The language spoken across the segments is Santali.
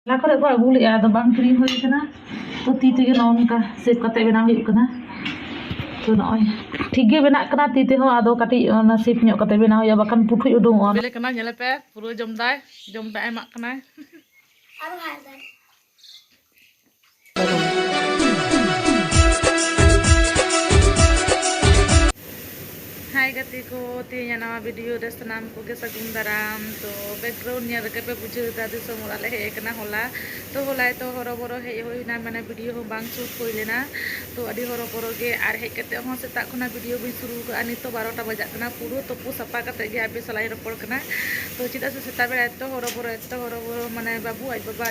ᱚᱱᱟ ᱠᱚᱨᱮ ᱠᱚ ᱟᱹᱜᱩ ᱞᱮᱫᱼᱟ ᱟᱫᱚ ᱵᱟᱝ ᱠᱤᱨᱤᱧ ᱦᱩᱭ ᱠᱟᱱᱟ ᱛᱚ ᱛᱤ ᱛᱮᱜᱮ ᱱᱚᱜᱼᱚ ᱱᱚᱝᱠᱟ ᱥᱮᱯ ᱠᱟᱛᱮ ᱵᱮᱱᱟᱣ ᱦᱩᱭᱩᱜ ᱠᱟᱱᱟ ᱛᱚ ᱱᱚᱜᱼᱚᱭ ᱴᱷᱤᱠ ᱜᱮ ᱵᱮᱱᱟᱜ ᱠᱟᱱᱟ ᱛᱤ ᱛᱮᱦᱚᱸ ᱟᱫᱚ ᱠᱟᱹᱴᱤᱡ ᱚᱱᱟ ᱥᱮᱯ ᱧᱚᱜ ᱠᱟᱛᱮ ᱵᱮᱱᱟᱣ ᱦᱩᱭᱩᱜᱼᱟ ᱵᱟᱠᱷᱟᱱ ᱯᱩᱴᱷᱩᱡ ᱩᱰᱩᱝᱚᱜᱼᱟ ᱵᱮᱞᱮ ᱠᱟᱱᱟ ᱧᱮᱞᱮ ᱯᱮ ᱯᱩᱨᱟᱹ ᱡᱚᱢ ᱫᱟᱭ ᱡᱚᱢ ᱫᱟᱜ ᱮᱢᱟᱜ ᱠᱟᱱᱟᱭ ᱦᱟᱭ ᱜᱟᱛᱮ ᱠᱚ ᱛᱮᱦᱮᱧᱟᱜ ᱱᱟᱣᱟ ᱵᱷᱤᱰᱤᱭᱳ ᱨᱮ ᱥᱟᱱᱟᱢ ᱠᱚᱜᱮ ᱥᱟᱹᱜᱩᱱ ᱫᱟᱨᱟᱢ ᱛᱚ ᱵᱮᱠᱜᱨᱟᱣᱩᱱᱰ ᱧᱮᱞ ᱨᱮᱜᱮ ᱯᱮ ᱵᱩᱡᱷᱟᱹᱣ ᱮᱫᱟ ᱫᱤᱥᱚᱢ ᱚᱲᱟᱜ ᱞᱮ ᱦᱮᱡ ᱟᱠᱟᱱᱟ ᱦᱚᱞᱟ ᱛᱚ ᱦᱚᱞᱟᱭ ᱛᱚ ᱦᱚᱨᱚᱵᱚᱨᱚ ᱦᱮᱡ ᱦᱩᱭ ᱮᱱᱟ ᱢᱟᱱᱮ ᱵᱷᱤᱰᱤᱭᱳ ᱦᱚᱸ ᱵᱟᱝ ᱥᱩᱴ ᱦᱩᱭ ᱞᱮᱱᱟ ᱛᱚ ᱟᱹᱰᱤ ᱦᱚᱨᱚᱵᱚᱨᱚ ᱜᱮ ᱟᱨ ᱦᱮᱡ ᱠᱟᱛᱮ ᱦᱚᱸ ᱥᱮᱛᱟᱜ ᱠᱷᱚᱱᱟᱜ ᱵᱷᱤᱰᱤᱭᱳ ᱵᱟᱹᱧ ᱥᱩᱨᱩ ᱠᱟᱜᱼᱟ ᱱᱤᱛᱚᱜ ᱵᱟᱨᱚᱴᱟ ᱵᱟᱡᱟᱜ ᱠᱟᱱᱟ ᱯᱩᱨᱟᱹ ᱛᱩᱯᱩ ᱥᱟᱯᱷᱟ ᱠᱟᱛᱮ ᱜᱮ ᱟᱯᱮ ᱥᱟᱞᱟᱜ ᱤᱧ ᱨᱚᱯᱚᱲ ᱠᱟᱱᱟ ᱛᱚ ᱪᱮᱫᱟᱜ ᱥᱮ ᱥᱮᱛᱟᱜ ᱵᱮᱲᱟ ᱮᱛᱚ ᱦᱚᱨᱚᱵᱚᱨᱚ ᱮᱛᱚ ᱦᱚᱨᱚᱵᱚᱨᱚ ᱢᱟᱱᱮ ᱵᱟᱹᱵᱩ ᱟᱡ ᱵᱟᱵᱟ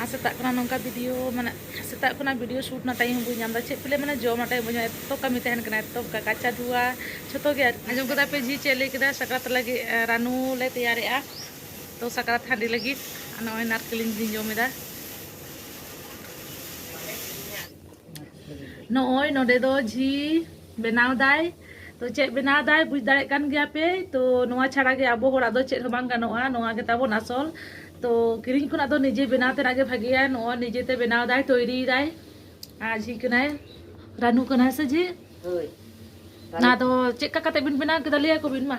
ᱟᱨ ᱥᱮᱛᱟᱜ ᱠᱷᱚᱱᱟᱜ ᱱᱚᱝᱠᱟ ᱵᱷᱤᱰᱤᱭᱳ ᱢᱟᱱᱮ ᱥᱮᱛᱟᱜ ᱠᱷᱚᱱᱟᱜ ᱵᱷᱤᱰᱤᱭᱳ ᱥᱩᱴ ᱨᱮᱱᱟᱜ ᱴᱟᱭᱤᱢ ᱦᱚᱸ ᱵᱟᱹᱧ ᱧᱟᱢ ᱮᱫᱟ ᱪᱮᱫ ᱯᱮᱞᱮ ᱢᱟᱱᱮ ᱡᱚᱢ ᱨᱮᱱᱟᱜ ᱴᱟᱭᱤᱢ ᱵᱟᱹᱧ ᱧᱟᱢ ᱮᱫᱟ ᱮᱛᱚ ᱠᱟᱹᱢᱤ ᱛᱟᱦᱮᱱ ᱠᱟᱱᱟ ᱮᱛᱚ ᱠᱟᱪᱟ ᱫᱷᱩᱣᱟ ᱡᱷᱚᱛᱚ ᱜᱮ ᱟᱸᱡᱚᱢ ᱠᱮᱫᱟ ᱯᱮ ᱡᱷᱤ ᱪᱮᱫ ᱞᱟᱹᱭ ᱠᱮᱫᱟ ᱥᱟᱠᱨᱟᱛ ᱞᱟᱹᱜᱤᱫ ᱨᱟᱱᱩ ᱞᱮ ᱛᱮᱭᱟᱨᱮᱜᱼᱟ ᱛᱚ ᱥᱟᱠᱨᱟᱛ ᱦᱟᱺᱰᱤ ᱞᱟᱹᱜᱤᱫ ᱱᱚᱜᱼᱚᱭ ᱱᱟᱨᱠᱮᱞᱤᱧ ᱞᱤᱧ ᱡᱚᱢ ᱮᱫᱟ ᱱᱚᱜᱼᱚᱭ ᱱᱚᱰᱮ ᱫᱚ ᱡᱷᱤ ᱵᱮᱱᱟᱣ ᱫᱟᱭ ᱛᱚ ᱪᱮᱫ ᱵᱮᱱᱟᱣ ᱫᱟᱭ ᱵᱩᱡᱽ ᱫᱟᱲᱮᱭᱟᱜ ᱠᱟᱱ ᱜᱮᱭᱟ ᱯᱮ ᱛᱚ ᱱᱚᱣᱟ ᱪᱷᱟᱲᱟ ᱜᱮ ᱟᱵᱚ ᱦᱚᱲᱟᱜ ᱫᱚ ᱪᱮᱫ ᱦᱚᱸ ᱵᱟᱝ ᱜᱟᱱᱚᱜᱼᱟ ᱱᱚᱣᱟ ᱜᱮ ᱛᱟᱵᱚᱱ ᱟᱥᱚᱞ ᱛᱚ ᱠᱤᱨᱤᱧ ᱠᱷᱚᱱᱟᱜ ᱫᱚ ᱱᱤᱡᱮ ᱵᱮᱱᱟᱣ ᱛᱮᱱᱟᱜ ᱜᱮ ᱵᱷᱟᱜᱮᱭᱟ ᱱᱚᱜᱼᱚᱭ ᱱᱤᱡᱮ ᱛᱮ ᱵᱮᱱᱟᱣ ᱫᱟᱭ ᱛᱚᱭᱨᱤᱭ ᱫᱟᱭ ᱟᱨ ᱡᱷᱤ ᱠᱟᱱᱟᱭ ᱨᱟᱱᱩ ᱠᱟᱱᱟᱭ ᱥᱮ ᱡᱷᱤ ᱦᱳᱭ ᱚᱱᱟ ᱫᱚ ᱪᱮᱫ ᱞᱮᱠᱟ ᱠᱟᱛᱮ ᱵᱤᱱ ᱵᱮᱱᱟᱣ ᱠᱮᱫᱟ ᱞᱟᱹᱭ ᱟᱠᱚ ᱵᱤᱱ ᱢᱟ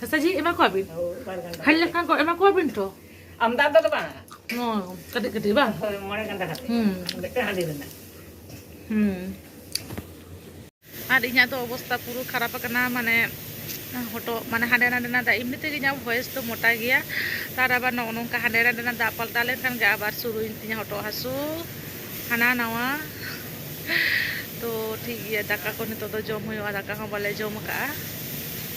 ᱥᱟᱥᱟᱡᱤ ᱮᱢᱟ ᱠᱚᱣᱟᱵᱤᱱ ᱦᱟᱹᱞ ᱞᱮᱠᱷᱟᱱ ᱠᱚ ᱮᱢᱟ ᱠᱚᱣᱟᱵᱤᱱ ᱛᱚ ᱟᱢᱫᱟ ᱫᱚ ᱵᱟᱝ ᱠᱟᱹᱴᱤᱡ ᱠᱟᱹᱴᱤᱡ ᱵᱟᱝ ᱢᱚᱬᱮ ᱜᱟᱱᱰᱟ ᱠᱟᱛᱮ ᱦᱩᱸ ᱢᱤᱫᱴᱮᱱ ᱦᱟᱺᱰᱤ ᱨᱮᱱᱟᱜ ᱦᱩᱸ ᱟᱨ ᱤᱧᱟᱹᱜ ᱫᱚ ᱚᱵᱚᱥᱛᱟ ᱯᱩᱨᱟᱹ ᱠᱷᱟᱨᱟᱯ ᱟᱠᱟᱱᱟ ᱢᱟᱱᱮ ᱦᱚᱴᱚᱜ ᱢᱟᱱᱮ ᱦᱟᱸᱰᱮ ᱱᱟᱰᱮᱱᱟᱜ ᱫᱟᱜ ᱮᱢᱱᱤ ᱛᱮᱜᱮ ᱤᱧᱟᱹᱜ ᱵᱷᱚᱭᱮᱥ ᱫᱚ ᱢᱚᱴᱟ ᱜᱮᱭᱟ ᱛᱟᱨ ᱟᱵᱟᱨ ᱱᱚᱜᱼᱚ ᱱᱚᱝᱠᱟ ᱦᱟᱸᱰᱮ ᱱᱟᱰᱮᱱᱟᱜ ᱫᱟᱜ ᱯᱟᱞᱴᱟᱣ ᱞᱮᱱᱠᱷᱟᱱ ᱜᱮ ᱟᱵᱟᱨ ᱥᱩᱨᱩᱭᱮᱱ ᱛᱤᱧᱟᱹ ᱦᱚᱴᱚᱜ ᱦᱟᱹᱥᱩ ᱦᱟᱱᱟ ᱱᱟᱣᱟ ᱛᱚ ᱴᱷᱤᱠ ᱜᱮᱭᱟ ᱫᱟᱠᱟ ᱠᱚ ᱱᱤᱛᱚᱜ ᱫᱚ ᱡᱚᱢ ᱦᱩᱭᱩᱜᱼᱟ ᱫᱟᱠᱟ ᱦᱚᱸ ᱵᱟᱞᱮ ᱡᱚᱢ ᱟᱠᱟᱫᱼᱟ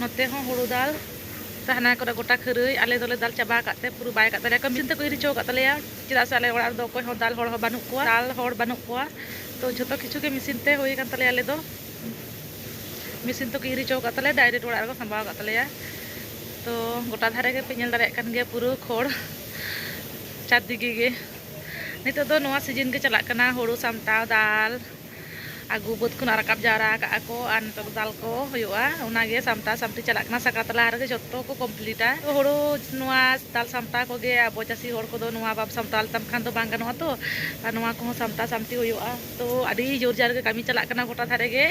ᱱᱚᱛᱮ ᱦᱚᱸ ᱦᱩᱲᱩ ᱫᱟᱞ ᱛᱟᱦᱮᱱᱟ ᱠᱚᱨᱮ ᱜᱚᱴᱟ ᱠᱷᱟᱹᱨᱟᱹᱭ ᱟᱞᱮ ᱫᱚᱞᱮ ᱫᱟᱞ ᱪᱟᱵᱟ ᱟᱠᱟᱫ ᱛᱮ ᱯᱩᱨᱟᱹ ᱵᱟᱭ ᱟᱠᱟᱫ ᱛᱟᱞᱮᱭᱟ ᱠᱟᱹᱢᱤᱱ ᱛᱮᱠᱚ ᱤᱨ ᱦᱚᱪᱚ ᱟᱠᱟᱫ ᱛᱟᱞᱮᱭᱟ ᱪᱮᱫᱟᱜ ᱥᱮ ᱟᱞᱮ ᱚᱲᱟᱜ ᱨᱮᱫᱚ ᱚᱠᱚᱭ ᱦᱚᱸ ᱫᱟᱞ ᱦᱚᱲ ᱦᱚᱸ ᱵᱟᱹᱱᱩᱜ ᱠᱚᱣᱟ ᱫᱟᱞ ᱦᱚᱲ ᱵᱟᱹᱱᱩᱜ ᱠᱚᱣᱟ ᱛᱚ ᱡᱷᱚᱛᱚ ᱠᱤᱪᱷᱩ ᱜᱮ ᱢᱮᱥᱤᱱ ᱛᱮ ᱦᱩᱭ ᱟᱠᱟᱱ ᱛᱟᱞᱮᱭᱟ ᱟᱞᱮ ᱫᱚ ᱢᱮᱥᱤᱱ ᱛᱮᱠᱚ ᱤᱨ ᱦᱚᱪᱚ ᱟᱠᱟᱫ ᱛᱟᱞᱮᱭᱟ ᱰᱟᱭᱨᱮᱠᱴ ᱚᱲᱟᱜ ᱨᱮᱠᱚ ᱥᱟᱢᱵᱟᱣ ᱟᱠᱟᱫ ᱛᱟᱞᱮᱭᱟ ᱛᱚ ᱜᱚᱴᱟ ᱫᱷᱟᱨᱮ ᱜᱮᱯᱮ ᱧᱮᱞ ᱫᱟᱲᱮᱭᱟᱜ ᱠᱟᱱ ᱜᱮᱭᱟ ᱯᱩᱨᱟᱹ ᱠᱷᱚᱲ ᱪᱟᱨᱫᱤᱠᱮ ᱜᱮ ᱱᱤᱛᱚᱜ ᱫᱚ ᱱᱚᱣᱟ ᱥᱤᱡᱤᱱ ᱜᱮ ᱪᱟᱞᱟᱜ ᱠᱟᱱᱟ ᱦᱩᱲᱩ ᱥᱟᱢᱴᱟᱣ ᱫᱟᱞ ᱟᱹᱜᱩ ᱵᱟᱹᱫᱽ ᱠᱷᱚᱱᱟᱜ ᱨᱟᱠᱟᱵ ᱡᱟᱣᱨᱟ ᱟᱠᱟᱜᱼᱟ ᱠᱚ ᱟᱨ ᱱᱤᱛᱚᱜ ᱫᱚ ᱫᱟᱞ ᱠᱚ ᱦᱩᱭᱩᱜᱼᱟ ᱚᱱᱟᱜᱮ ᱥᱟᱢᱴᱟᱣ ᱥᱟᱢᱴᱤ ᱪᱟᱞᱟᱜ ᱠᱟᱱᱟ ᱥᱟᱠᱨᱟᱛ ᱞᱟᱦᱟ ᱨᱮᱜᱮ ᱡᱚᱛᱚ ᱠᱚ ᱠᱚᱢᱯᱞᱤᱴᱟ ᱦᱳᱲᱳ ᱱᱚᱣᱟ ᱫᱟᱞ ᱥᱟᱢᱴᱟᱣ ᱠᱚᱜᱮ ᱟᱵᱚ ᱪᱟᱹᱥᱤ ᱦᱚᱲ ᱠᱚᱫᱚ ᱱᱚᱣᱟ ᱵᱟᱢ ᱥᱟᱢᱴᱟᱣ ᱞᱮᱛᱟᱢ ᱠᱷᱟᱱ ᱫᱚ ᱵᱟᱝ ᱜᱟᱱᱚᱜᱼᱟ ᱛᱚ ᱟᱨ ᱱᱚᱣᱟ ᱠᱚᱦᱚᱸ ᱥᱟᱢᱴᱟᱣ ᱥᱟᱢᱴᱤ ᱦᱩᱭᱩᱜᱼᱟ ᱛᱚ ᱟᱹᱰᱤ ᱡᱳᱨ ᱡᱟᱨ ᱜᱮ ᱠᱟᱹᱢᱤ ᱪᱟᱞᱟᱜ ᱠᱟᱱᱟ ᱜᱚᱴᱟ ᱫᱷᱟᱨᱮ ᱜᱮ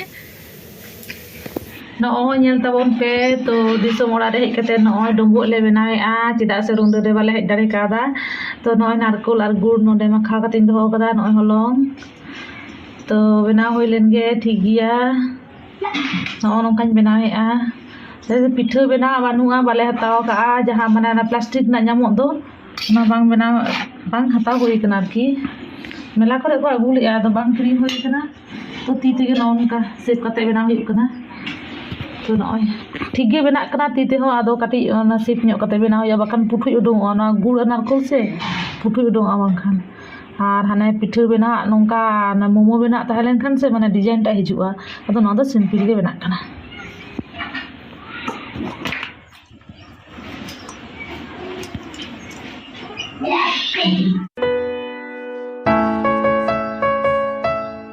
ᱱᱚᱜᱼᱚᱭ ᱧᱮᱞ ᱛᱟᱵᱚᱱ ᱯᱮ ᱛᱚ ᱫᱤᱥᱚᱢ ᱚᱲᱟᱜ ᱨᱮ ᱦᱮᱡ ᱠᱟᱛᱮ ᱱᱚᱜᱼᱚᱭ ᱰᱩᱸᱵᱩᱜ ᱞᱮ ᱵᱮᱱᱟᱣᱮᱜᱼᱟ ᱪᱮᱫᱟᱜ ᱥᱮ ᱨᱩᱸᱰᱟᱹ ᱨᱮ ᱵᱟᱞᱮ ᱦᱮᱡ ᱫᱟᱲᱮ ᱠᱟᱣᱫᱟ ᱛᱚ ᱱᱚᱜᱼᱚᱭ ᱱᱟᱨᱠᱳᱞ ᱟᱨ ᱜᱩᱲ ᱱᱚᱰᱮ ᱢᱟᱠᱷᱟᱣ ᱠᱟᱛᱮᱧ ᱫᱚᱦᱚ ᱠᱟᱫᱟ ᱱᱚᱜᱼᱚᱭ ᱦᱚᱞᱚᱝ ᱛᱚ ᱵᱮᱱᱟᱣ ᱦᱩᱭ ᱞᱮᱱ ᱜᱮ ᱴᱷᱤᱠ ᱜᱮᱭᱟ ᱱᱚᱜᱼᱚ ᱱᱚᱝᱠᱟᱧ ᱵᱮᱱᱟᱣᱮᱫᱼᱟ ᱯᱤᱴᱷᱟᱹ ᱵᱮᱱᱟᱣ ᱵᱟᱹᱱᱩᱜᱼᱟ ᱵᱟᱞᱮ ᱦᱟᱛᱟᱣ ᱠᱟᱜᱼᱟ ᱡᱟᱦᱟᱸ ᱢᱟᱱᱮ ᱚᱱᱟ ᱯᱞᱟᱥᱴᱤᱠ ᱨᱮᱱᱟᱜ ᱧᱟᱢᱚᱜ ᱫᱚ ᱚᱱᱟ ᱵᱟᱝ ᱵᱮᱱᱟᱣ ᱵᱟᱝ ᱦᱟᱛᱟᱣ ᱦᱩᱭ ᱠᱟᱱᱟ ᱟᱨᱠᱤ ᱢᱮᱞᱟ ᱠᱚᱨᱮ ᱠᱚ ᱟᱹᱜᱩ ᱞᱮᱫᱼᱟ ᱟᱫᱚ ᱵᱟᱝ ᱠᱤᱨᱤᱧ ᱦᱩᱭ ᱠᱟᱱᱟ ᱛᱚ ᱛᱤ ᱛᱮᱜᱮ ᱱᱚᱜᱼᱚ ᱱᱚᱝᱠᱟ ᱥᱮᱵᱽ ᱠᱟᱛᱮ ᱵᱮᱱᱟᱣ ᱦᱩᱭᱩᱜ ᱠᱟᱱᱟ ᱛᱚ ᱱᱚᱜᱼᱚᱭ ᱴᱷᱤᱠ ᱜᱮ ᱵᱮᱱᱟᱜ ᱠᱟᱱᱟ ᱛᱤ ᱛᱮᱦᱚᱸ ᱟᱫᱚ ᱠᱟᱹᱴᱤᱡ ᱚᱱᱟ ᱥᱮᱵᱽ ᱧᱚᱜ ᱠᱟᱛᱮ ᱵᱮᱱᱟᱣ ᱦᱩᱭᱩᱜᱼᱟ ᱵᱟᱠᱷᱟᱱ ᱯᱩᱴᱷᱩᱡ ᱩᱰᱩᱠᱚᱜᱼᱟ ᱚᱱᱟ ᱜᱩᱲ ᱱᱟᱲᱠᱳᱞ ᱥᱮ ᱯᱩᱴᱷᱩᱡ ᱩᱰᱩᱠᱚᱜᱼᱟ ᱵᱟᱝᱠᱷᱟᱱ ᱟᱨ ᱦᱟᱱᱮ ᱯᱤᱴᱷᱟᱹ ᱵᱮᱱᱟᱣ ᱟᱜ ᱱᱚᱝᱠᱟ ᱢᱳᱢᱳ ᱵᱮᱱᱟᱣ ᱟᱜ ᱛᱟᱦᱮᱸ ᱞᱮᱱᱠᱷᱟᱱ ᱥᱮ ᱢᱟᱱᱮ ᱰᱤᱡᱟᱭᱤᱱ ᱴᱟᱜ ᱦᱤᱡᱩᱜᱼᱟ ᱟᱫᱚ ᱱᱚᱣᱟ ᱫᱚ ᱥᱤᱢᱯᱤᱞ ᱜᱮ ᱵᱮᱱᱟᱜ ᱠᱟᱱᱟ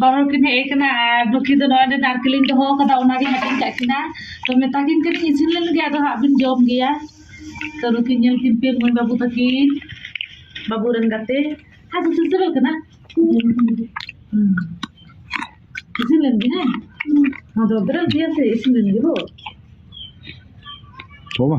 ᱵᱟᱨ ᱦᱚᱲ ᱠᱤᱱ ᱦᱮᱡ ᱟᱠᱟᱱᱟ ᱟᱨ ᱵᱟᱹᱠᱤ ᱫᱚ ᱱᱚᱜᱼᱚᱭ ᱱᱚᱰᱮ ᱱᱟᱨᱠᱮᱞ ᱤᱧ ᱫᱚᱦᱚ ᱟᱠᱟᱫᱟ ᱚᱱᱟᱜᱮ ᱦᱟᱹᱴᱤᱧ ᱠᱟᱜ ᱠᱤᱱᱟ ᱛᱚ ᱢᱮᱛᱟ ᱠᱤᱱ ᱠᱟᱹᱱᱟᱹᱧ ᱤᱥᱤᱱ ᱞᱮᱱ ᱜᱮ ᱟᱫᱚ ᱦᱟᱸᱜ ᱵᱤᱱ ᱡᱚᱢ ᱜᱮᱭᱟ ᱛᱚ ᱱᱩᱠᱤᱱ ᱧᱮᱞ ᱠᱤᱱ ᱯᱮ ᱢᱟᱹᱭ ᱵᱟᱹᱵᱩ ᱛᱟᱹᱠᱤᱱ ᱵᱟᱹᱵᱩ ᱨᱮᱱ ᱜᱟᱛᱮ ᱟᱨ ᱠᱚ ᱥᱮᱴᱮᱨᱚᱜ ᱠᱟᱱᱟ ᱦᱩᱸ ᱤᱥᱤᱱ ᱞᱮᱱ ᱜᱮ ᱦᱮᱸ ᱟᱫᱚ ᱵᱮᱨᱮᱞ ᱜᱮᱭᱟ ᱥᱮ ᱤᱥᱤᱱ ᱞᱮᱱ ᱜᱮ ᱦᱳ ᱵᱟᱵᱟ